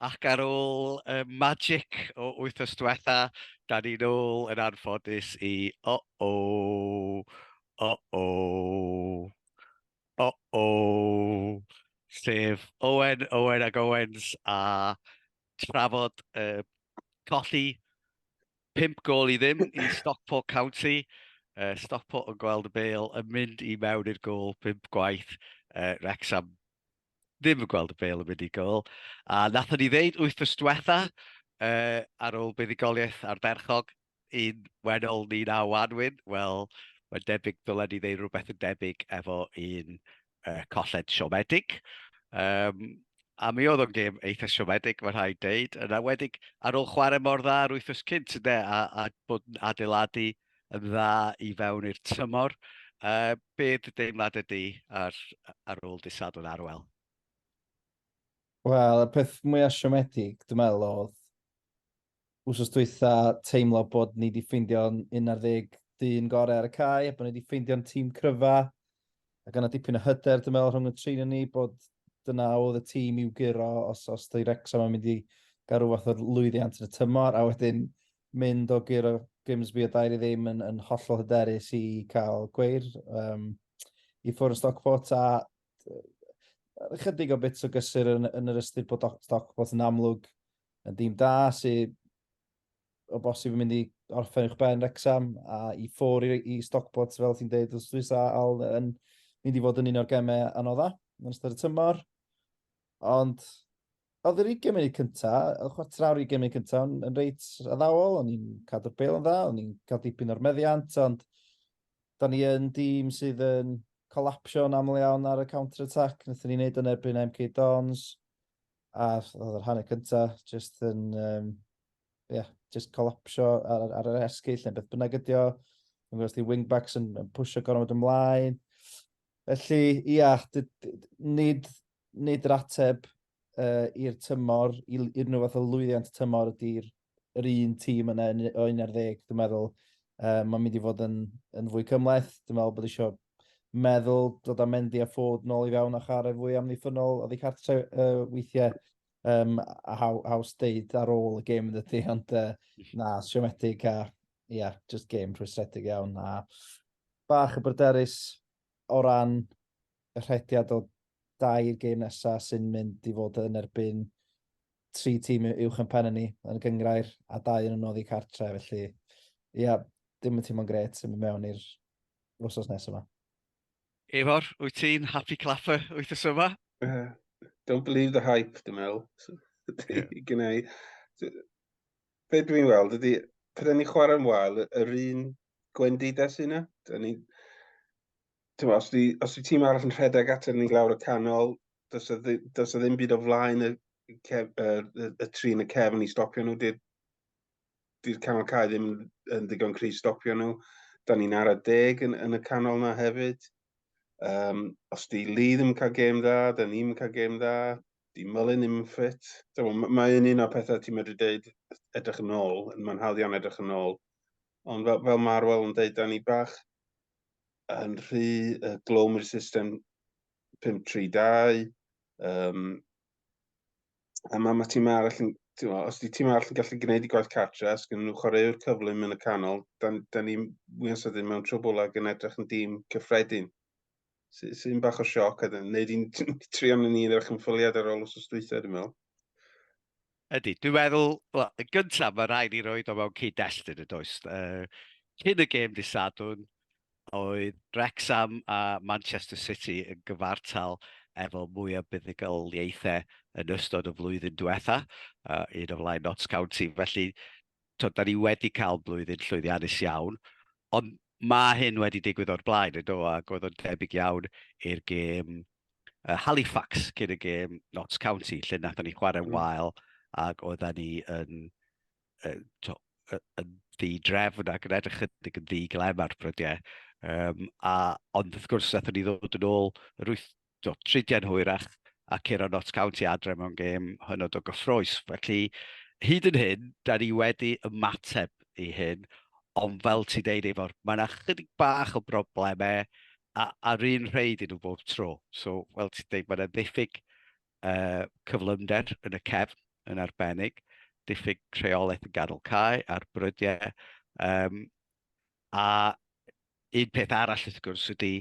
Ac ar ôl y magic o wythnos diwetha, da ni'n ôl yn anffodus i o-o, o-o, o-o, sef Owen, Owen ac Owens a trafod y colli pump gol i ddim i Stockport County. Uh, Stockport yn gweld y bel yn mynd i mewn i'r gol pump gwaith uh, Wrexham ddim yn gweld y bel yn mynd i gol. A nathon ni ddeud wythnos diwetha, uh, ar ôl buddigoliaeth ar Berchog, un wenol ni na wanwyn, wel, mae'n debyg ddylen ni ddeud rhywbeth yn debyg efo un uh, colled siomedig. Um, a mi oedd o'n gêm eitha siomedig, mae rhaid deud. Yn awedig ar ôl chwarae mor dda ar wythnos cynt, ynddo, a, a bod yn adeiladu yn dda i fewn i'r tymor. Uh, be dy deimlad ydy ar, ar ôl dy Sadwrn Arwel? Wel, y peth mwyaf siomedig, dwi'n meddwl, oedd wrth dwytha teimlo bod ni wedi ffeindio'n 11 dyn gorau ar y cae, bod ni wedi ffeindio'n tîm cryfa, a gan o dipyn o hyder, dwi'n meddwl, rhwng y trin ni, bod dyna oedd y tîm i'w gyro os, os dwi Rexham yn mynd i gael rhyw fath o lwyddiant yn y tymor, a wedyn mynd o guro Grimsby o dair i ddim yn, yn hollol hyderus i cael gweir um, i ffwrdd Stockport a chydig o bits o gysur yn, yn yr ystyr bod Stockport yn amlwg yn dîm da sydd o bosib yn mynd i orffen i'ch ben Rexham a i ffwr i, i Stockport fel ti'n dweud os dwi'n sa al yn mynd i fod yn un o'r gemau anodda yn ystod y tymor. Ond oedd yr 20 munud cynta, y chwarter awr 20 munud cynta yn, yn reit addawol, o'n i'n cadw'r bel yn dda, o'n i'n cael dipyn o'r meddiant, ond da ni yn dîm sydd yn colapsio'n aml iawn ar y counter-attack, wnaethon ni wneud yn erbyn MK Dons, a oedd yr hanner cynta, just yn, um, yeah, just colapsio ar, ar yr esgyll neu beth bynnag ydi o, yn gwrs di wingbacks yn, yn pwysio gormod ymlaen, Felly, ia, nid, nid yr ateb uh, i'r tymor, i'r unrhyw fath o lwyddiant tymor ydy'r yr un tîm yna o 11, dwi'n meddwl. Uh, mae'n mynd i fod yn, yn fwy cymleth. Dwi'n meddwl bod eisiau meddwl dod â Mendy a ffod nôl i fewn a chare fwy amddiffynol oddi cartre uh, weithiau um, a haw, haws deud ar ôl y gêm yn dydy, ond uh, na, siomedig a ie, yeah, just game rhwystredig iawn a bach y bryderus o ran y rhediad o dair game nesaf sy'n mynd i fod yn erbyn tri tîm uwch yn pen ni yn gyngrair a dau yn ymwneud i cartre felly ie, yeah, dim yn tîm o'n gret sy'n mynd mewn i'r wrsos nesaf yma. Efor, wyt ti'n happy clapper wyt y yma? Uh, don't believe the hype, dwi'n meddwl. Yeah. Gynau, be dwi'n weld ydy, pryd ni'n chwarae'n wael, yr un gwendidau sy'n yna. Da ni, ti'n os di, os di tîm arall yn rhedeg at ni'n glawr y canol, does y, does y ddim byd o flaen y, cef, y, y, y tri yn y cefn i stopio nhw. Di'r di canol cael ddim yn ddigon cri stopio nhw. Da ni'n ar y deg yn, yn y canol na hefyd. Um, os di Lee ddim yn cael gêm dda, da ni'n cael gêm dda. Dim fel yn unfit. Mae'n un o'r pethau ti'n medru dweud edrych yn ôl, yn manhalion edrych yn ôl. Ond fel, fel mae'r wel yn dweud, da ni bach yn rhy uh, glwm i'r system 532. Um, a mae ma tîm arall yn, mo, os di tîm arall yn gallu gwneud i gwaith cartre, os gynnu nhw chwaraewr cyflym yn y canol, da, da ni wy'n sydyn mewn trwbwl ag yn edrych yn dîm cyffredin. sy'n sy bach o sioc, a dyn, neu di'n trio mynd i'n eich ymffoliad ar ôl os oes dweitha, dwi'n meddwl. Ydy, dwi'n meddwl, well, yn gyntaf mae rhaid i roed o mewn cyd-destun y does. Uh, cyn y gêm disadwn, oedd Wrexham a Manchester City yn gyfartal efo mwy o buddigoliaethau yn ystod y flwyddyn diwetha, uh, un o flaen Notts County. Felly, to, da ni wedi cael blwyddyn llwyddiannus iawn, ond mae hyn wedi digwydd o'r blaen, yn do, ac oedd o'n debyg iawn i'r gêm uh, Halifax cyn y gêm Notts County, lle nathon ni chwarae mm. wael ac oedden ni yn, uh, to, uh, yn ddi drefn ac yn edrych ydig yn ddi glem ar brydiau. Um, a, ond wrth gwrs, nathon ni ddod yn ôl yr wyth, do, tridiau'n hwyrach a curo Notts County adre mewn gêm hynod o gyffroes. Felly, hyd yn hyn, da ni wedi ymateb i hyn, ond fel ti'n deud efo'r, mae yna chydig bach o broblemau a, a'r un rhaid i nhw bob tro. So, fel ti'n deud, mae yna ddiffyg uh, cyflymder yn y cefn yn arbennig, diffyg rheolaeth yn ganol cae a'r brydiau. Um, a un peth arall wrth gwrs ydy,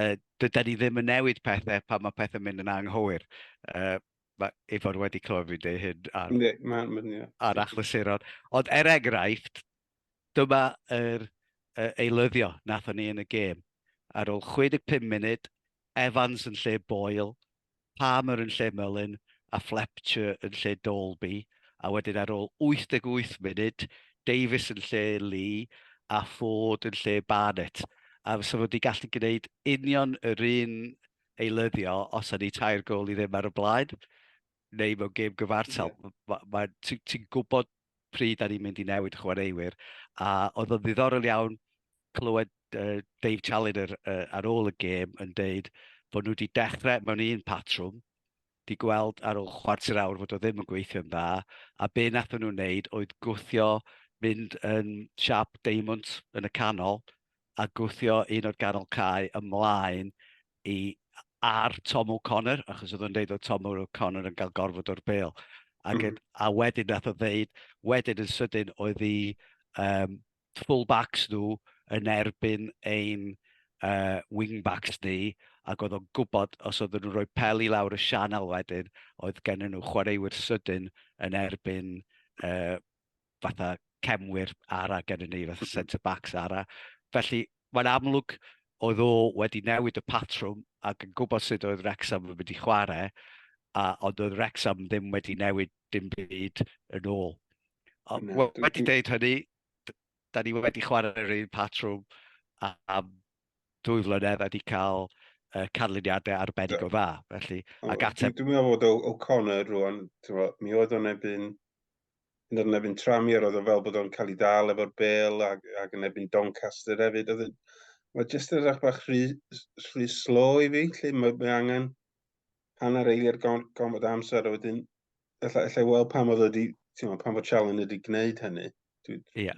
uh, dyda ni ddim yn newid pethau pan mae pethau'n mynd yn anghywir. Uh, mae Ifor wedi clywed fi'n dweud hyn ar, ne, ma, ma, yeah. ar achlysuron. Ond er enghraifft, dyma yr uh, eilyddio nathon ni yn y gêm. Ar ôl 65 munud, Evans yn lle Boyle, Palmer yn lle Mullin a Fletcher yn lle Dalby, a wedyn ar ôl 88 munud, Davies yn lle Lee a Ford yn lle Barnett. A fysa fo wedi gallu gwneud union yr un eilyddio os ydy tair gol i ddim ar y blaen, neu mewn gêm gyfartal. Ie. Ti'n gwybod pryd da ni'n mynd i newid y chwaraewyr, a oedd o'n ddiddorol iawn clywed uh, Dave Challenger uh, ar ôl y gêm yn deud bod nhw wedi dechrau mewn un patrwm, di gweld ar ôl chwarter awr fod o ddim yn gweithio'n dda, a be nath nhw'n wneud oedd gwthio mynd yn siap deimwnt yn y canol, a gwthio un o'r ganol cae ymlaen i ar Tom O'Connor, achos oedd o'n dweud oedd Tom O'Connor yn cael gorfod o'r bel. Ac, mm. A wedyn nath o ddeud, wedyn yn sydyn oedd i um, full-backs nhw yn erbyn ein uh, wing-backs ni, ac oedd o'n gwybod os oedd nhw'n rhoi pel i lawr y sianel wedyn, oedd gen nhw chwaraewyr sydyn yn erbyn uh, fatha cefnwyr ara gennym ni, fatha centre-backs ara. Felly, mae'n amlwg oedd o wedi newid y patrwm ac yn gwybod sut oedd Wrexham yn mynd i chwarae, a, ond oedd Wrexham ddim wedi newid dim byd yn ôl. A, no, wedi dweud hynny, da ni wedi chwarae'r un patrwm am a dwy flynedd a wedi cael uh, canlyniadau arbennig o dda. Felly, ac ateb... Dwi'n meddwl bod O'Connor rwan, mi oedd o'n ebyn yn yr nefyn trami, a roedd o fel bod o'n cael ei dal efo'r bel ac, ac yn ebyn Doncaster hefyd. Oedd yn, mae jyst yn rhaid bach rhy, rhy slo i fi, lle mae, mae angen hanner eiliad gormod amser, a wedyn, efallai, efallai weld pam oedd wedi, ti'n pam oedd Challen wedi gwneud hynny. Dwi, yeah.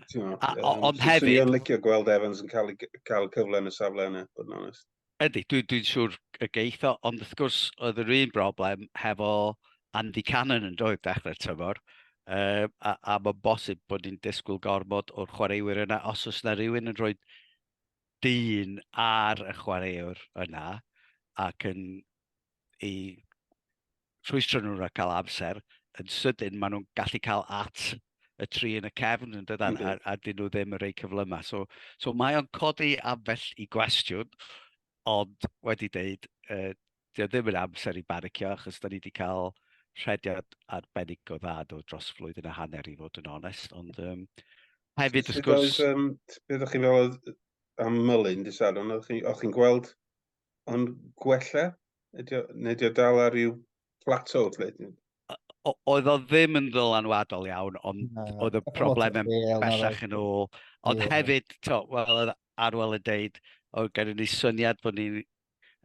Ond hefyd... Dwi'n licio gweld Evans yn cael, cael cyfle yn y safle yna, bod yn onest. Ydy, dwi'n dwi siŵr y geith o, ond wrth gwrs oedd yr un broblem hefo Andy Cannon yn doedd dechrau'r tymor. Uh, a, a mae'n bosib bod ni'n disgwyl gormod o'r chwaraewyr yna os oes yna rhywun yn rhoi dyn ar y chwaraewr yna ac yn ei rhwystro nhw rhag cael amser, yn sydyn maen nhw'n gallu cael at y tri yn y cefn yn dydan, mm -hmm. a, a dyn nhw ddim yn rhoi cyflymau. So, so mae o'n codi ambell i gwestiwn, ond wedi dweud, uh, dio ddim yn amser i banicio, achos da ni wedi cael rhediad arbennig o dda do dros flwydd yn y hanner i fod yn onest, ond um, hefyd wrth gwrs... Um, beth o'ch chi'n fel am Mullin, di Saron, o'ch chi'n gweld Ond gwella? Ydy o, neu ydy o dal ar ryw plateau, lle? Oedd o ddim yn ddylanwadol iawn, ond no, oedd y problem yn bellach yn ôl. Ond yeah. hefyd, to, well, oedd Arwel yn deud, oedd gen i ni syniad bod ni'n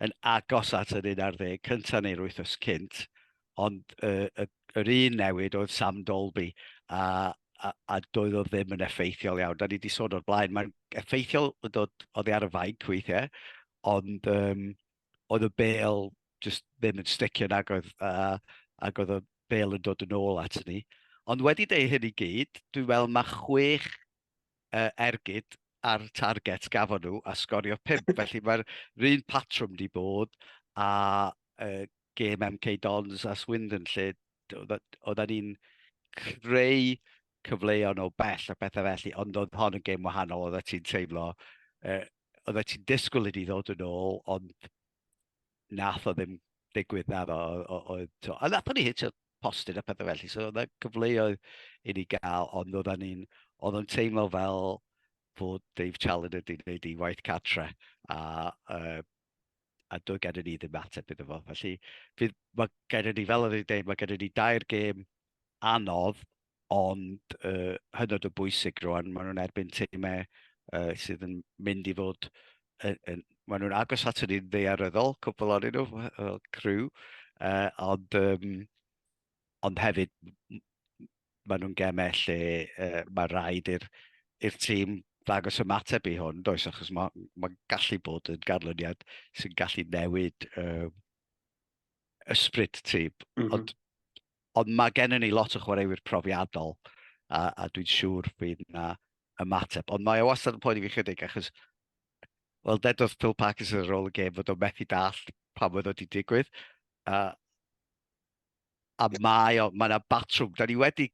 yn agos at yr un ar ddeg cyntaf neu'r wythnos cynt, ond uh, y, yr un newid oedd Sam Dolby, a, a, a doedd o ddim yn effeithiol iawn. Da ni wedi sôn o'r blaen, mae'n effeithiol yn dod oddi ar y fainc weithiau, ond um, oedd y bel just ddim yn sticio nag oedd, uh, ac oedd y bel yn dod yn ôl at ni. Ond wedi deud hyn i gyd, dwi'n meddwl mae chwech uh, ergyd ar target gafon nhw a sgorio pimp. Felly mae'r un patrwm di bod a uh, gêm MK Dons a Swindon lle oedden ni'n creu cyfleoedd o bell a bethau felly, ond oedd hon yn gêm wahanol, oedd ti'n teimlo, uh, oedd ti'n disgwyl i ni ddod yn ôl, ond nath o ddim digwydd na ddo. Oedd, to, a nath o'n i hitio postyn a pethau felly, so oedd cyfleoedd i ni gael, ond oedd ni'n, oedd o'n teimlo fel bod Dave Challoner wedi gwneud ei waith catre, a uh, a doedd gen i ni ddim ateb iddo fo. Felly, fydd, mae gen i ni, fel oedd wedi dweud, mae gen i ni dair gêm anodd, ond uh, hynod o bwysig rwan. Maen nhw'n erbyn teimau uh, sydd yn mynd i fod, uh, uh, maen nhw'n agos at ni'n ddeiaryddol, cwbl o'n nhw, fel crew, uh, ond, um, ond hefyd, maen nhw'n gemau lle uh, mae rhaid i'r tîm ddangos ymateb i hwn, does, achos mae'n ma gallu bod yn ganlyniad sy'n gallu newid uh, ysbryd tîm. Mm -hmm. Ond, ond mae gennym ni lot o chwaraewyr profiadol, a, a dwi'n siŵr bydd yna ymateb. Ond mae o e wastad yn poeni fi chydig, achos, wel, dedodd Phil Parkinson ar ôl y gêm fod o'n methu dall pa oedd wedi digwydd. A, A mae o, mae yna batrwm. Da ni wedi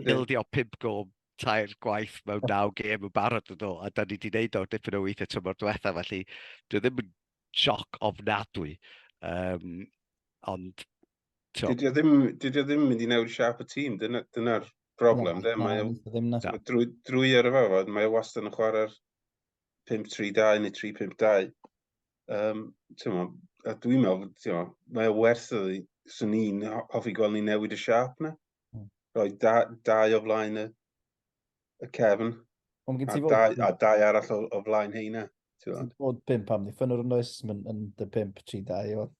bildio pimp gom tair gwaith mewn naw gêm yn barod yn ôl, a da ni wedi gwneud o dipyn o weithiau tymor diwetha, felly dwi ddim yn sioc ofnadwy. Um, ond... Dydy o ddim, dydy o ddim mynd i newid siap y tîm, dyna'r dyna broblem. No, mae o, drwy, drwy ar y fawr, mae o wastad yn chwarae'r 5-3-2 neu 3-5-2. Yym, t'mo', a dwi'n meddwl, t'mo', mae o werth iddi, 'swn i'n hoffi gweld ni newid y siâp 'na. Hmm. Rhoi da, dau o flaen y, y cefn, Ond gen a ti fod, dau, a dau arall o, o flaen heina. ti'n gwbod. bod pimp am ddiffynwr yn oes, mae'n yn dy pimp tri dau o.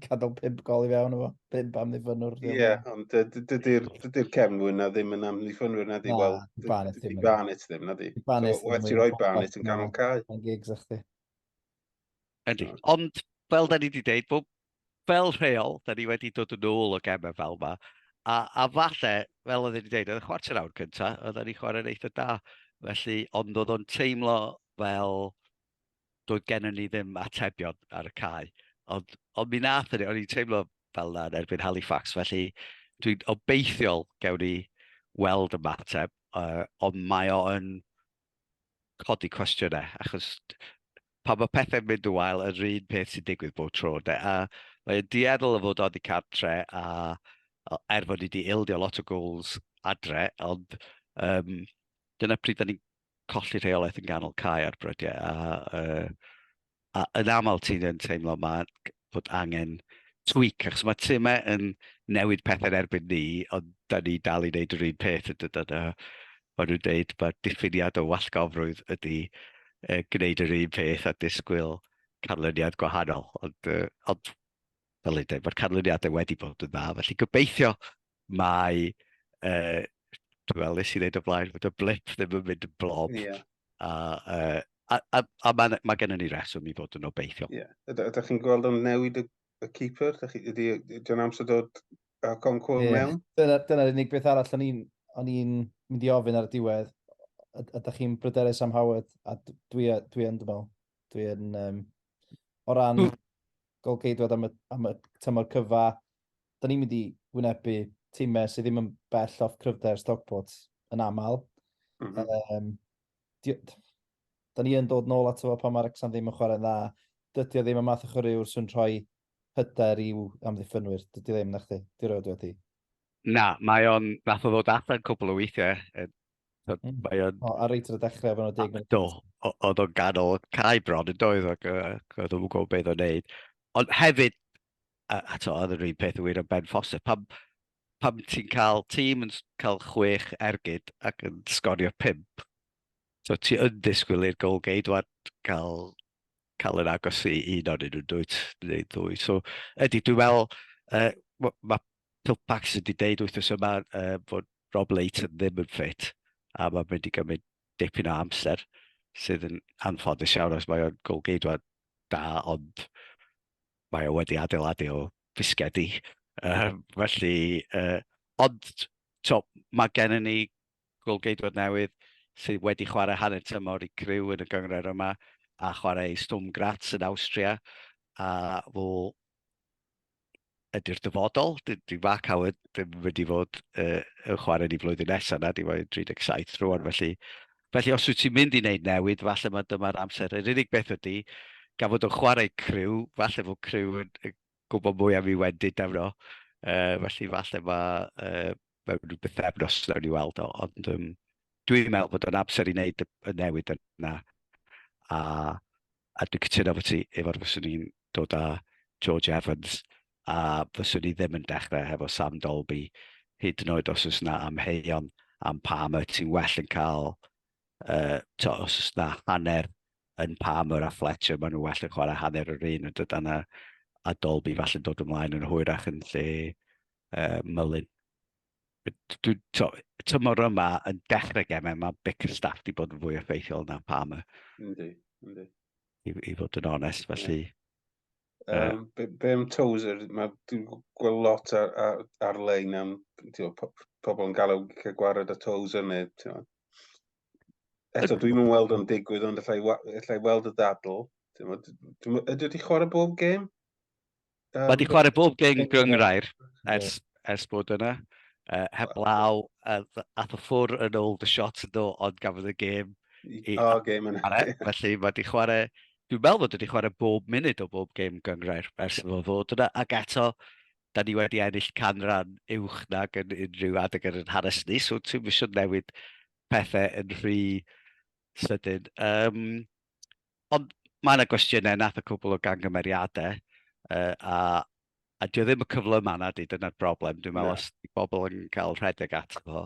Cadol pimp gol i fewn efo, pimp am ddiffynwr. Ie, yeah, ond dy- dy- dydy'r dydy cefnwyr na ddim yn amddiffynwyr na di, Na, wel, di Barnett ddim yn. Barnett ddim na di. Barnett So, werth ti roi Barnett yn ganol cae. Mae'n gigs a chdi. Ydy. Ond, fel da ni wedi dweud, bod fel rheol, da ni wedi dod yn ôl o gemau fel yma. A, a falle, fel oedd wedi dweud, oedd y chwarter awr cyntaf, oedd ni chwarae'n eitha da. Felly, ond oedd o'n teimlo fel doedd gennym ni ddim atebion ar y cae. Ond, ond mi nath ni, o'n i'n teimlo fel yna yn erbyn Halifax, felly dwi'n obeithiol gewn ni weld y mateb, uh, ond mae o'n codi cwestiynau, achos pan mae pethau'n mynd yn wael, yr un peth sy'n digwydd bob tro, de. A mae'n dueddol o fod oddi cartre, a er fod ni wedi ildio lot o gols adre, ond um, dyna pryd da ni'n colli rheolaeth yn ganol cae ar brydiau, a uh, a yn aml ti'n yn teimlo ma' bod angen tweak, achos mae timau yn newid pethau yn erbyn ni, ond da ni dal i wneud yr un peth yn dydyn nhw. Maen nhw'n dweud mae'r diffiniad o wallgofrwydd ydy uh, gwneud yr un peth a disgwyl canlyniad gwahanol. Ond, uh, ond fel ei dweud, mae'r canlyniadau wedi bod yn dda, felly gobeithio mae, uh, dwi'n meddwl, nes i ddeud o blaen, fod y blip ddim yn mynd yn blob. Yeah. A, uh, a, a, a mae ma gennym ni reswm i fod yn obeithio. Ie. Yeah. Ydych chi'n gweld o'n newid y, y keeper? Ydy John Amser dod a Concour yeah. mewn? Dyna'r dyna unig beth arall o'n i'n o'n i'n mynd i ofyn ar y diwedd. Ydych chi'n bryderus am Howard? A dwi, dwi yn, dwi'n meddwl. Dwi yn, um, o ran mm. golgeidwad am y, am y tymor cyfa, da ni'n mynd i wynebu tîmau sydd ddim yn bell off cryfder Stockport yn aml. Mm -hmm. um, di, da ni yn dod nôl ato fo pan mae'r Exxon ddim yn chwarae'n dda. Dydy o ddim y math o chwaraewr sy'n rhoi hyder i'w amddiffynwyr. Dydy o ddim, na chdi? Di roed wedi. Na, mae o'n nath o ddod allan cwbl o weithiau. Mm. Mae o'n... O, a reit ar y dechrau fan o deg munud. Do, oedd o'n ganol cae bron yn doedd ac oedd o'n gwybod beth o'n neud. Ond hefyd, a, a to, oedd yr un peth wir o Ben Foster. Pam, pam ti'n cael tîm yn cael chwech ergyd ac yn sgorio pimp, so ti yn disgwyl i'r gol geidwad cael, cael yn agos i un o'n nhw'n dwyt, neu ddwy. So, ydy, dwi'n meddwl, uh, mae ma Pilpax wedi deud wythnos yma uh, bod Rob Leighton ddim yn ffit, a mae'n mynd i gymryd dipyn o amser, sydd yn anffodus iawn os mae o'n gol geidwad da, ond mae o wedi adeiladu o fisgedi. Uh, felly, uh, ond to, mae gennym ni golgeidwad newydd sydd wedi chwarae hanner tymor i criw yn y gyngred yma a chwarae Stum Graz yn Austria a fo ydy'r dyfodol. Di, di Mark Howard ddim wedi fod uh, yn chwarae ni flwyddyn nesaf na, di fod 37 rwan, felly Felly os wyt ti'n mynd i wneud newid, falle mae dyma'r amser. Yr unig beth ydy, gan fod o'n chwarae criw, falle fod criw yn gwybod mwy am ei wendid arno. Uh, felly falle mae uh, mewn rhyw bythefnos nawn ni weld o. Ond um, dwi'n meddwl bod o'n amser i wneud y newid yna. A A dwi'n cytuno efo ti, efo'r fyswn i'n dod â George Evans, a fyswn i ddim yn dechrau hefo Sam Dolby, hyd yn oed os oes na amheuon am Palmer, ti'n well yn cael, uh, to, os oes na hanner yn Palmer a Fletcher, maen nhw well yn chwarae hanner yr un yn dod yna, a Dolby falle'n dod ymlaen yn hwyrach yn lle uh, Mullin. dwi, to, tymor yma yn dechrau gemau, mae bec y staff wedi bod yn fwy effeithiol na pam y... Yndi, yndi. I, I fod yn onest, felly... Yeah. Um, be, be am Tozer? Mae dwi'n gweld lot ar, ar, ar-lein am tiwa, po, pobl yn galw cael gwared a Tozer neu... Tiwa. Eto, dwi'n mynd weld o'n digwydd, ond allai, allai weld y ddadl. Ydw wedi chwarae bob gêm? Um, Mae wedi chwarae bob geng gyngrair ers, ers bod yna. Uh, heb law, uh, ath o ffwr yn ôl the shot yn ôl, ond gafodd y gêm i oh, game yna. E, felly mae wedi chwarae, dwi'n meddwl bod wedi chwarae bob munud o bob gêm gyngrair ers fo fod yna, ac eto, da ni wedi ennill canran uwch nag yn unrhyw adeg yn yr hanes ni, so ti'n mysio newid pethau yn rhy sydyn. Um, Ond mae yna gwestiynau, nath y cwbl o gangymeriadau, uh, a, a dwi ddim y cyflym anna di, dyna'r broblem. Dwi'n meddwl, os di bobl yn cael rhedeg ato fo.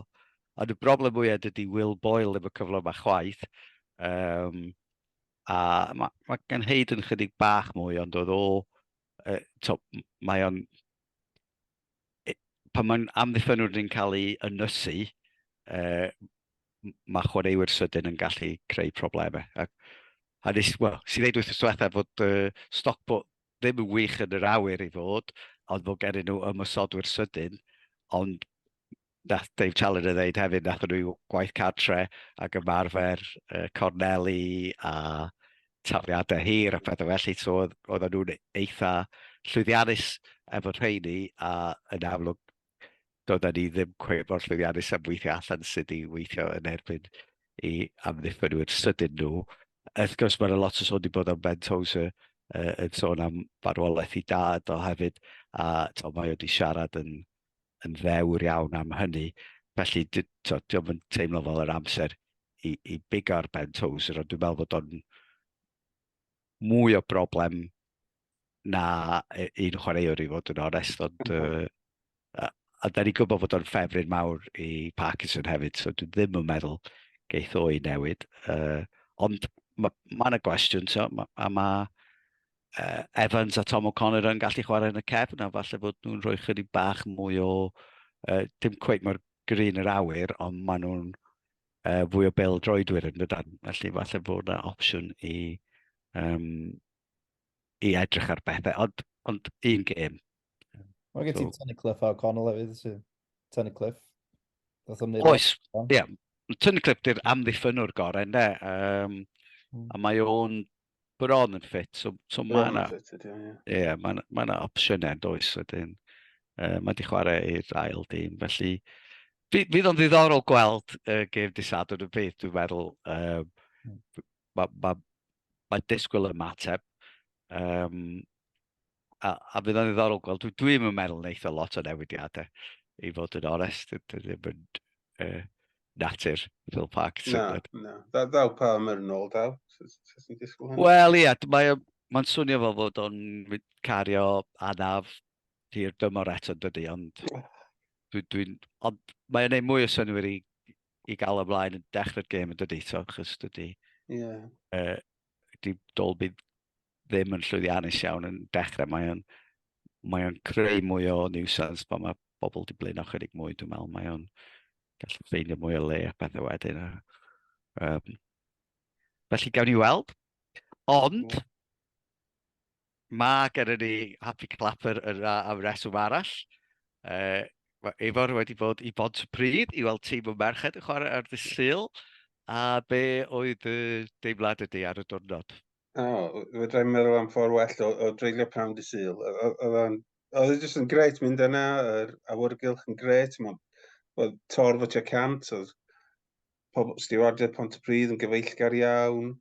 Ond y broblem mwyaf dydy Will Boyle ddim y cyflym a chwaith. Um, a mae ma gen Hayden chydig bach mwy, ond oedd o, uh, to, mae o'n pan mae'n amddiffynwr yn cael ei ynysu, uh, mae chwaraewyr sydyn yn gallu creu problemau. A, a nes, well, si ddeud wrth yswetha fod uh, Stockport ddim yn wych yn yr awyr i fod, ond fod gen nhw ymwysodwyr sydyn, ond nath Dave Challoner ddeud hefyd, nath nhw gwaith cartre ac ymarfer uh, corneli a tafliadau hir a phethau felly, so oedd nhw'n eitha llwyddiannus efo rheini a yn amlwg doedden ni ddim cweith mor llwyddiannus am weithio allan sydd i weithio yn erbyn i amddiffynwyr sydyn nhw. Wrth gwrs mae'n lot o sôn wedi bod am Ben Tozer uh, yn sôn am farwolaeth i dad o hefyd a to, mae wedi siarad yn yn ddewr iawn am hynny. Felly, diolch yn teimlo fel yr amser i, i big ar Ben Toes, ond dwi'n meddwl bod o'n mwy o broblem na e, un chwaraewr i fod yn onest, ond uh, a, a da ni gwybod bod o'n ffefryn mawr i Parkinson hefyd, so dwi ddim yn meddwl geith o'i newid. Uh, ond mae ma yna gwestiwn, so, ma, a mae uh, Evans a Tom O'Connor yn gallu chwarae yn y cefn, a falle bod nhw'n rhoi chydig bach mwy o, uh, dim cweith mor grin yr awyr, ond maen nhw'n uh, fwy o bel droedwyr yn dydan. Felly falle bod yna opsiwn i, um, i edrych ar bethau, ond, ond un gêm. Mae gen ti so. Tony Cliff a O'Connell hefyd, sy'n Tony Cliff. Oes, ie. Yeah. Tony Cliff di'r amddiffynwr gorau, ne? Um, mm. A mae o'n Bron yn ffit, so, so mae yna... Ie, mae yna opsiynau does wedyn. Uh, mae wedi chwarae i'r ail dîm, felly... Fydd o'n ddiddorol gweld y uh, gêm disadwn y byd, dwi'n meddwl. Um, mae ma, ma disgwyl ymateb. Um, a, a bydd o'n ddiddorol gweld, dwi, dwi ddim yn meddwl wneud o lot o newidiadau, i fod yn onest, dwi ddim yn uh, natur Phil Park. Na, na, da, ddaw pa ymwyr yn ôl daw, Wel, ia, mae'n mae swnio fo fod o'n cario anaf hir dymor eto dydy, ond dwi'n... Dwi, ond mae'n gwneud mwy o synwyr i, i gael ymlaen yn dechrau'r gêm yn dydy, so, chys dydy... Ie. Yeah. Uh, di Dolby ddim yn llwyddiannus iawn yn dechrau, mae o'n, mae o'n creu mwy o nuisance pan mae bobl di blin ochr ychydig mwy, dwi'n meddwl. Mae o'n gallu ffeindio mwy o le a pethau wedyn. Um, felly gawn ni weld. Ond, mae gen i ni Happy Clapper yna am reswm arall. Uh, mae Efor wedi bod i Bont y Pryd i weld tîm y merched yn chwarae ar ddysil. A be oedd y deimlad ydy ar y diwrnod? O, fedra i'n meddwl am ffordd well o, o dreulio prawn dy syl. Oedd o'n... Oedd e jyst yn gret mynd yna, yr awyrgylch yn gret, oedd torf y tua cant, oedd pobl stiwardiau Pont y Pryd yn gyfeillgar iawn,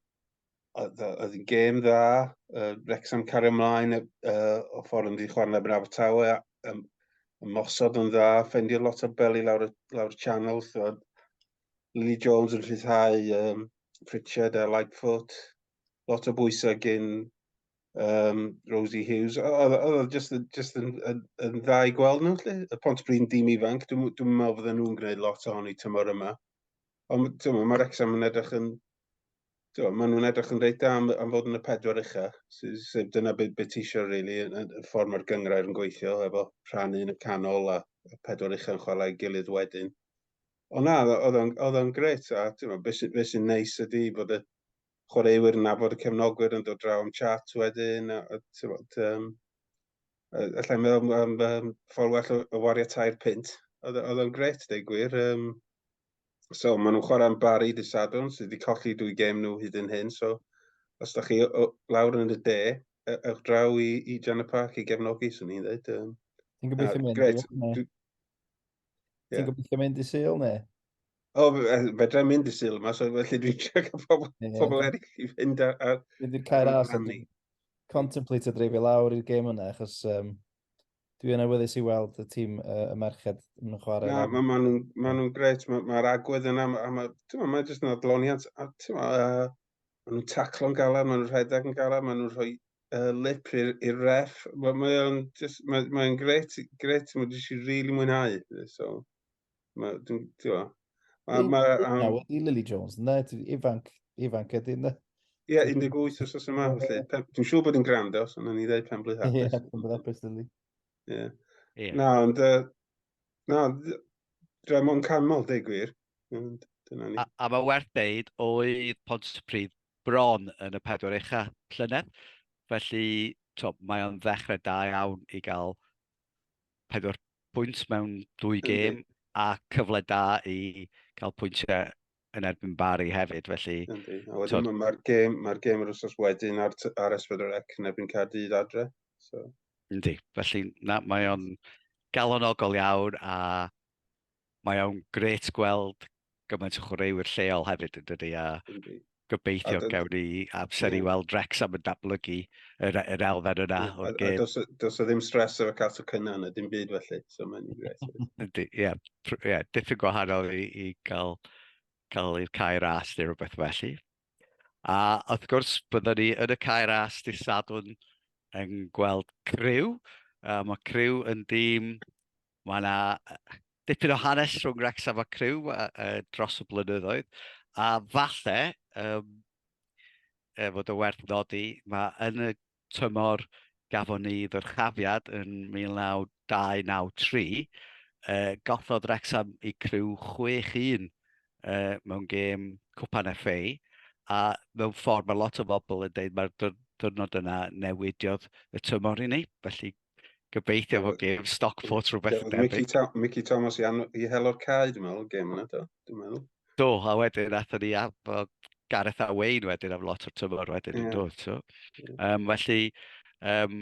oedd oedd hi'n gêm dda, uh, Wrexham cario ymlaen uh, o ffordd yn ddi chwarae yn Abertawe, um, ymosod yn dda, ffendio lot o beli lawr, lawr y channel, oedd Lily Jones yn rhyddhau um, Pritchard a Lightfoot. Lot o bwysau gyn um, Rosie Hughes. Oedd o just, just yn, yn, yn dda i gweld nhw, lle? Y pont brin dim ifanc, dwi'n dwi meddwl fydden nhw'n gwneud lot o honi tymor yma. Ond mae Rexham yn edrych yn... Mae nhw'n edrych yn reit am, am fod yn y pedwar ucha. So, so dyna beth be ti eisiau, really, y, y ffordd mae'r gyngrair yn gweithio, efo rhannu yn y canol a, a pedwar ucha yn chwarae gilydd wedyn. Ond na, oedd o'n, oedd o'n gret, a ti'n beth sy'n sy neis ydy bod y chwaraewyr yn nabod y cefnogwyr yn dod draw am chat wedyn, a, a ti'n bod, um, allai meddwl am um, ffordd well o, o wario tair pint. Oedd o'n gret, dweud gwir. Um, so, maen nhw'n chwarae am Barry dy Sadwn, sydd wedi colli dwy gem nhw hyd yn hyn, so os da chi o, o, lawr yn y de, e, ewch draw i, i Jan y Parc i gefnogi, swn i'n dweud. Um, Ti'n gobeithio mynd? Gret, Ie. Ti'n gobeithio mynd i Sul neu? O, fe- fe- fedra i mynd i Sul yma, so felly dwi'n trio cael pobl, Ie. pobl eraill i fynd ar... ar Dwi wedi cael Ar ras a rhannu. dwi'n contemplate a dreifio lawr i'r gêm yna, achos um, dwi yn awyddus i weld y tîm uh, y merched yn chwarae. na, mae ma nhw'n ma nhw gret, mae'r ma agwedd yna, a mae, ti'n ma, mae jyst yn adloniant, a ti'n ma, uh, Maen nhw'n taclo'n galed, maen nhw'n rhedeg yn galed, maen nhw'n rhoi uh, lip i'r ref. Mae'n mae o'n just, mae, mae gret, gret, mae jyst i really mwynhau. So, mae, dwi'n, dwi'n, mae, mae, um, Nawr, i Lily Jones, na, ti ifanc, ifanc ydy, na. Ie, yeah, 18 os oes yma, felly. Dwi'n siŵr bod yn grand os, ond o'n i ddweud pen blwydd hapus. Ie, pen blwydd hapus, Lily. Ie. Na, ond, uh, na, rhaid mo'n canmol, deg gwir. Ond dyna ni. A, a mae werth deud oedd Pontypridd bron yn y pedwar ucha llynedd. Felly, to, mae o'n ddechrau da iawn i gael pedwar pwynt mewn dwy gêm a cyfle da i cael pwyntiau yn erbyn Bari hefyd, felly... Yndi, a wedyn mae'r gêm, mae gêm yr wrthnos wedyn ar, ar Esbydr Ec yn erbyn Caerdydd adre. So. Yndi, felly na, mae o'n galonogol iawn a mae o'n gret gweld gymaint o chwaraewyr lleol hefyd yn dydy, a gobeithio a gawn ni amser yeah. i weld Rex am y datblygu yr, yr elfen yna yeah. o'r gêm. Dos, dos o ddim stres ar y cat o cynna na dim byd felly, so mae'n i'n gret. Ydy, ie, yeah, yeah, diffyg gwahanol i, i gael, cael i'r cae ras neu rhywbeth felly. A wrth gwrs, byddwn ni yn y cae ras dydd Sadwn yn gweld criw. Uh, mae criw yn dîm Mae yna dipyn o hanes rhwng Wrecsam a Crew uh, uh, dros y blynyddoedd, a falle, um, er fod y werth nodi, mae yn y tymor gafon ni ddyrchafiad yn 1993, uh, gollodd Wrecsam i Crew 6-1 uh, mewn gêm Cwpan FA, a mewn ffordd mae lot o bobl yn dweud mae'r diwrnod yna newidiodd y tymor i ni, felly Gobeithio fod gêm Stockport rhywbeth yn debyg. Mickey, Tom, Mickey Thomas i, i helo'r cae, dwi'n meddwl, gêm yna, do, dwi'n meddwl. Do, a wedyn atho ni am Gareth a Wayne wedyn am lot o'r tymor wedyn yeah. yn dod. So. Yeah. Um, felly, um,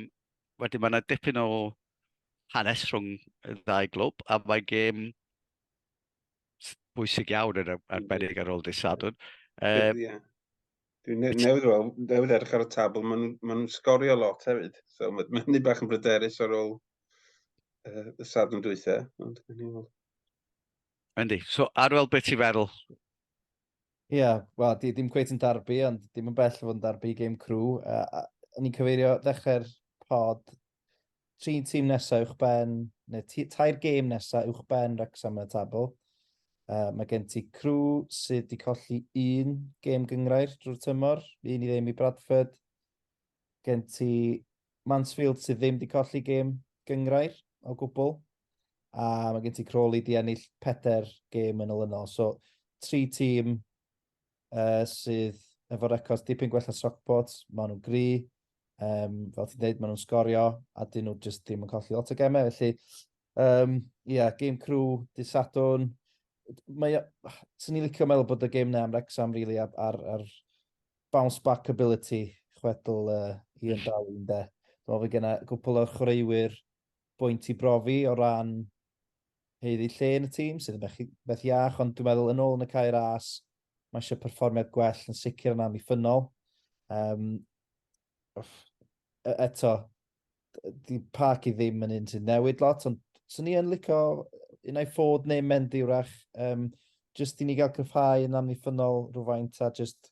wedyn mae yna dipyn o hanes rhwng y ddau glwb, a mae gêm bwysig iawn yn arbennig ar ôl dydd Sadwn. Um, yeah. Dwi ne newydd weld, newydd edrych ar y tabl, maen nhw'n ma nhw sgorio lot hefyd. So mae'n ma hynny bach yn bryderus ar ôl uh, y sadwn dwytha. Yndi, so ar fel beth ti'n feddwl? Ie, yeah, wel, di ddim cweith yn darbu, ond dim yn bell fod yn darbu game crew. Uh, o'n i'n cyfeirio ddechrau'r pod tri tîm nesaf uwch ben, neu tair gêm nesaf uwch ben Rexham yn y tabl. Uh, mae gen ti Crew sydd wedi colli un gêm gyngrair drwy'r tymor, un i ddim i Bradford. Gen ti Mansfield sydd ddim wedi colli gêm gyngrair o gwbl. A mae gen ti Crawley di ennill peder gêm yn olynol. So, tri tîm uh, sydd efo records dipyn gwell na Stockport. Maen nhw'n gri, um, fel ti'n dweud, maen nhw'n sgorio, a dyn nhw jyst ddim yn colli lot o gemau. Felly, ie, um, yeah, game crew, disadwn. Mae, sy'n ni licio meddwl bod y game na am Rexham, really, ar, ar, ar bounce back ability chwedl uh, Ian Darwin, de. Dwi'n meddwl bod genna gwpl o'r chwaraewyr bwynt i brofi o ran haeddu lle yn y tîm, sydd yn beth, beth iach, ond dwi'n meddwl yn ôl yn y cair as, mae eisiau perfformiad gwell yn sicr yn amddiffynol. Um, e-, eto, di parc i ddim yn un sy'n newid lot, ond swn i yn licio un ai ffod neu mynd i wrach, um, jyst i ni gael cryfhau yn amddiffynol rhywfaint a jyst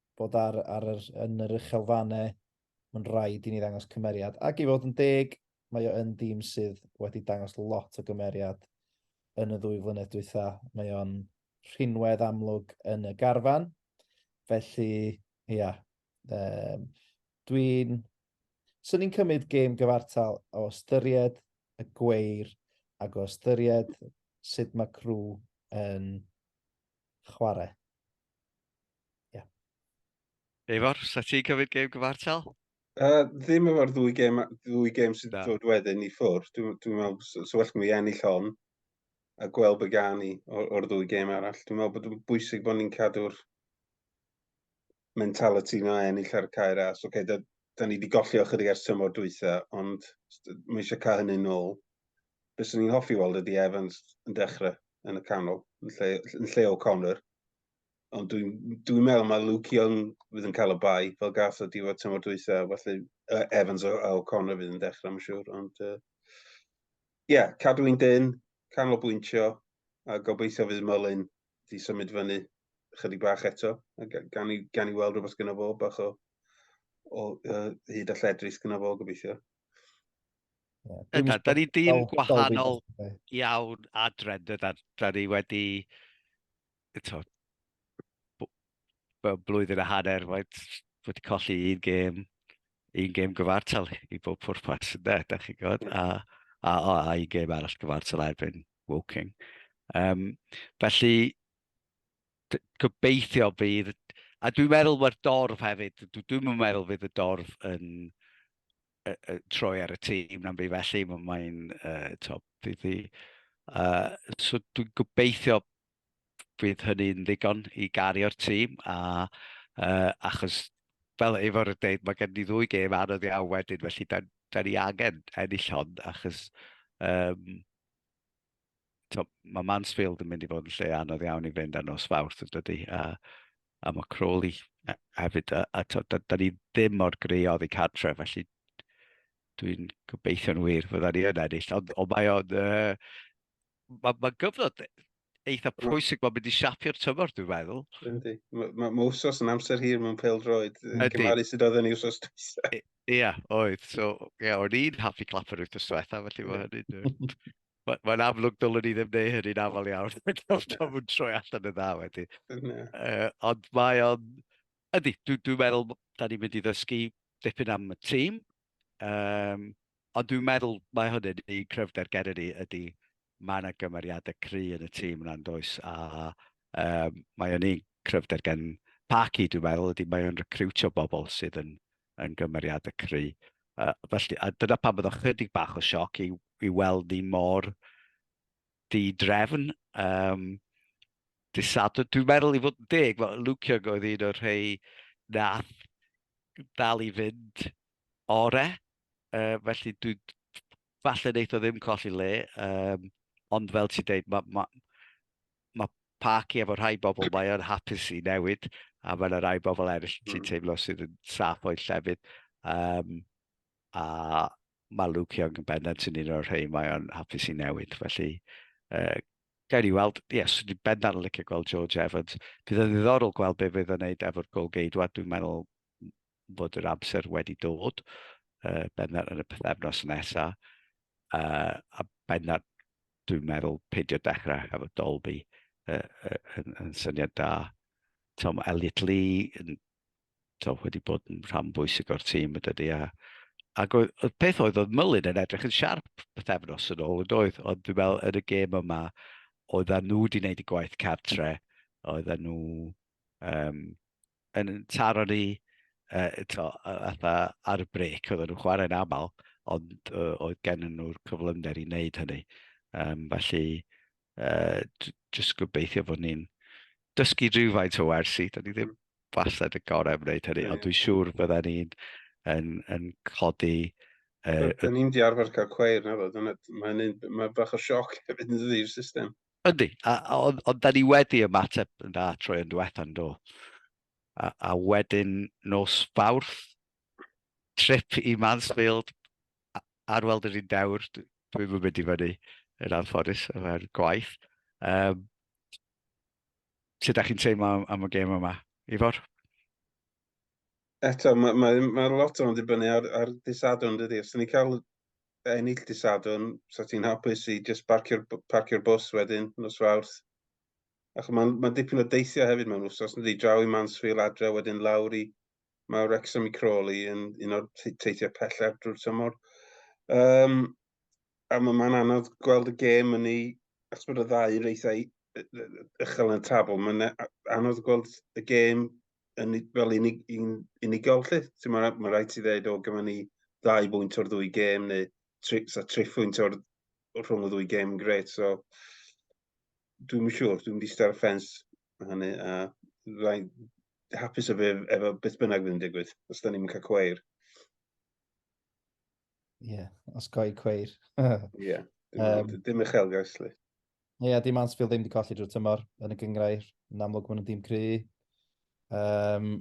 bod ar, ar yr, yn yr uchel fane, mae'n rhaid i ni ddangos cymeriad. Ac i fod yn deg, mae o yn dîm sydd wedi dangos lot o gymeriad yn y ddwy flynedd dwytha. Mae o'n rhinwedd amlwg yn y garfan. Felly, ia, um, dwi'n... Swn ni'n cymryd gêm gyfartal o ystyried y gweir ac o ystyried sut mae crw yn chwarae. Ie. Yeah. Efor, sa ti'n cymryd gêm gyfartal? Uh, ddim efo'r ddwy gêm, ddwy gêm sydd wedi dod wedyn i ffwr. Dwi'n dwi meddwl, so, so well mi ennill hon a gweld be gan i o'r ddwy gêm arall. Dwi'n meddwl bod yn bwysig bod ni'n cadw'r mentality na ennill ar y cair as. Okay, da, da ni wedi golli ochr i ers tymor dwytha, ond mae eisiau cael hynny'n ôl. Bys ni'n hoffi weld ydy Evans yn dechrau yn y canol, yn lle, yn lle O'Connor. Ond dwi'n dwi meddwl mae Luke Young fydd yn cael y bai fel gath o diwedd tymor dwytha. Felly uh, Evans a O'Connor fydd yn dechrau, mae'n siŵr. Ond ie, uh, yeah, cadw i'n dyn, canolbwyntio, a gobeithio fydd Mullin di symud fyny chydig bach eto. Gan i, gan i weld rhywbeth gyda fo, bach o, o uh, hyd a lledris gyda fo, gobeithio. Yna, da ni dim gwahanol iawn adre, dyna, da ni wedi, to, blwyddyn a hanner, wedi colli un gêm, un gêm gyfartal i bob pwrpas, yna, da chi'n gwybod, a, a, a, a un gêm arall gyfartal erbyn Woking. Um, felly, gobeithio bydd, a dwi'n meddwl mae'r dorf hefyd, dwi'n meddwl bydd y dorf yn, uh, uh, troi ar y tîm na'n byd felly, mae'n mae uh, top ddi. Uh, so dwi'n gobeithio bydd hynny'n ddigon i gario'r tîm, a, uh, achos fel efo'r dweud, mae gen i ddwy gêm anodd iawn wedyn, felly da, da ni angen ennill hon, achos um, to, mae Mansfield yn mynd i fod yn lle anodd iawn i fynd ar nos fawrth yn dydy, a, a mae Crawley e, hefyd, a, a to, da, da ni ddim mor greodd i cadre, felly dwi'n gobeithio'n wir fydda ni yn ennill, ond, ond mae o'n... Uh, mae ma gyfnod eitha pwysig mae'n mynd i siapio'r tymor, dwi'n meddwl. Yndi. Mae ma, ma wsos yn amser hir mewn pel droed. Yndi. Cymaru sydd oedd yn ei wsos dwysa. Ie, yeah, oedd. So, ie, yeah, o'n i'n hoffi clap yr wythnos diwetha, felly mae hynny'n... Mae'n amlwg dylwn i ddim neu hynny'n afal iawn. Mae'n nhw'n troi allan y dda wedi. Uh, ond mae o'n... Ydy, dwi'n dwi meddwl, da ni'n mynd i ddysgu dipyn am y tîm. Um, ond dwi'n meddwl mae hynny'n un cryfder gen i ydy Mae yna gymeriadau cry yn y tîm yna, does, a um, mae o'n un cryfder gen Parky, dwi'n meddwl, ydy mae o'n recriwtio bobl sydd yn, yn gymeriadau cry. Uh, felly, a dyna pan byddwch chydig bach o sioc i, i weld ni mor di-drefn. Um, disadw, dwi'n meddwl i fod yn deg, mae Luke Young oedd un o'r rhai nath dal i fynd ore. Uh, felly dwi'n falle wneith o ddim colli le, um, ond fel ti'n dweud, mae ma, ma parci efo rhai bobl mae o'n hapus i newid, a mae'n rhai bobl eraill ti'n hmm. teimlo sydd yn saff o'i llefydd. Um, a mae Luke Young yn bendant yn un o'r rhai mae o'n hapus i newid. Felly, uh, gael ni weld, ie, yes, dwi'n bendant yn licio gweld George Evans. Bydd yn ddiddorol gweld beth fydd yn gwneud efo'r golgeidwad, dwi'n meddwl bod yr amser wedi dod, uh, bennod yn y pethefnos nesaf, uh, a bennod dwi'n meddwl peidio dechrau efo Dolby uh, uh, yn, yn syniad da. Tom Elliot Lee yn to, wedi bod yn rhan bwysig o'r tîm y dydy, a, ac oedd, y peth oedd oedd Myllyn yn edrych yn siarp pethefnos yn ôl yn doedd, ond dwi'n meddwl yn y gêm yma, oedd nhw wedi gwneud y gwaith cartre, oedd nhw um, yn taro ni uh, to, atha, ar y brec, oedden nhw'n chwarae'n aml, ond uh, oedd gen nhw'r cyflymder i wneud hynny. Um, felly, uh, jyst gobeithio bod ni'n dysgu rhywfaint o wersi, da ni ddim wastad y gorau yn gwneud hynny, ond dwi'n siŵr bydden ni'n yn, yn codi... Uh, Dyn ni'n di arfer cael cweir na fod, mae, mae bach o sioc hefyd yn ddi'r system. Yndi, a, a, ond, ond da ni wedi ymateb yn dda troi yn diwetha yn do. A, a wedyn nos fawrth, trip i Mansfield, ar weld yr un dewr, dwi'n mynd mynd i fyny yn anffodus efo'r gwaith. Um, sut da chi'n teimlo am, am y gêm yma, Ifor? eto, mae, mae, mae lot o'n dibynnu ar, ar disadwn, dydy. Os ni'n cael ennill disadwn, sa ti'n hapus i just parcio'r parcio bus wedyn, nos fawrth. Ac mae'n ma dipyn o deithio hefyd mewn wsos, nid i draw i Mansfield adre, wedyn lawr i mae Wrexham i Crawley yn un o'r teithiau pellaf drwy'r tymor. Um, a mae'n anodd gweld y gêm yn ei, achos bod y ddau reithau uchel yn y tabl, mae'n anodd gweld y gêm yn, fel unig, un, unigol lle. Ti'n mae ma rhaid ti ddeud, o, gyma ni ddau bwynt o'r ddwy gêm, neu tri, so, tri phwynt o'r, rhwng y ddwy gêm, gret. So, dwi'n siŵr, dwi'n di star ffens hynny, a rhaid hapus efo, efo beth bynnag fydd yn digwydd, os da ni'n cael cweir. Ie, yeah, osgoi cweir. Ie, yeah, dim, um, dim uchelgais li. Ie, yeah, dim Mansfield ddim wedi colli drwy tymor yn y gyngrair. Yn amlwg maen nhw'n dim cry. Um,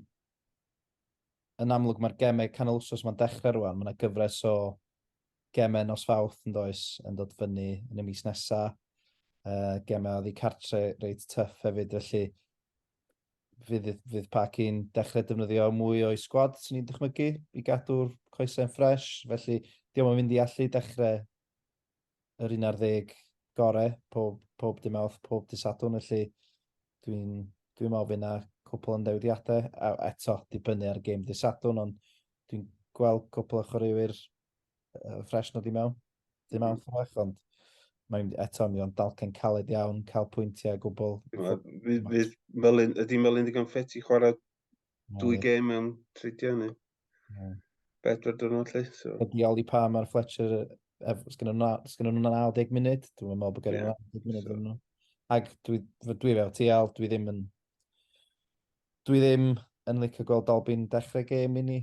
yn amlwg mae'r gemau canol wsos mae'n dechrau rwan. Mae yna gyfres o gemau nos fawth yn does yn dod fyny yn y mis nesaf. Uh, gemau oedd i cartre reit tuff hefyd, felly fydd, fydd Paci'n dechrau defnyddio mwy o'i sgwad, sy'n ni'n dychmygu, i gadw'r coesau'n ffres. Felly, diolch yn mynd i allu dechrau yr un ar ddeg gore pob, pob dim awth, pob dy sadwn. Felly, dwi'n dwi meddwl fydd yna cwpl o ndewidiadau. A eto, dibynnu ar y gêm dy sadwn, ond dwi'n gweld cwpl o chwaraewyr uh, ffres nhw di mewn. Dim am ffrech, ond mae'n eto mi o'n dalcen caled iawn, cael pwyntiau gwbl. Ydy Melin digon ffet i chwarae dwy gêm mewn tridiau ni. Bedwar dwrnod lle. So. Ydy Oli pa mae'r Fletcher, sgyn nhw'n 90 munud, dwi'n meddwl bod gen nhw'n 90 munud yn nhw. Ac dwi, dwi fel ti al, dwi ddim yn... Dwi ddim yn licio gweld Dolbyn dechrau gêm i ni.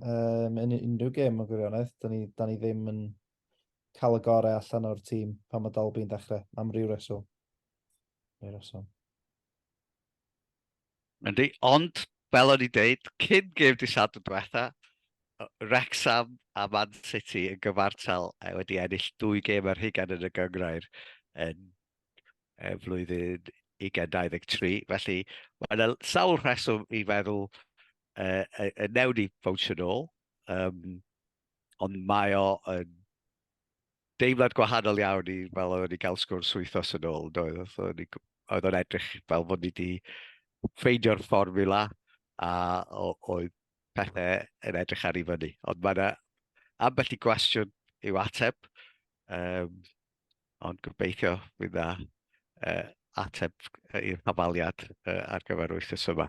um, yn unrhyw gêm yn gwirionedd. Da ni, da ni ddim yn cael y gorau allan o'r tîm pan mae Dalby'n dechrau, am ryw reswm. Ryw reswm. Yndi, ond fel o'n i dweud, cyn gêm di sad yn diwetha, Rexham a Man City yn gyfartal e, wedi ennill dwy gêm ar hugen yn y gyngrair yn e, flwyddyn 2023. Felly, mae'n sawl rheswm i feddwl uh, uh, uh, newn ni bownsio nôl, um, ond mae o yn deimlad gwahanol iawn i fel oedden ni gael sgwrs wythos yn ôl, doedd? Oedd o'n edrych fel fod ni wedi ffeindio'r fformula a oedd pethau yn edrych ar ei fyny. Ond mae yna ambell i gwestiwn i'w ateb, um, ond gobeithio fydd dda uh, ateb i'r hafaliad uh, ar gyfer wythnos yma.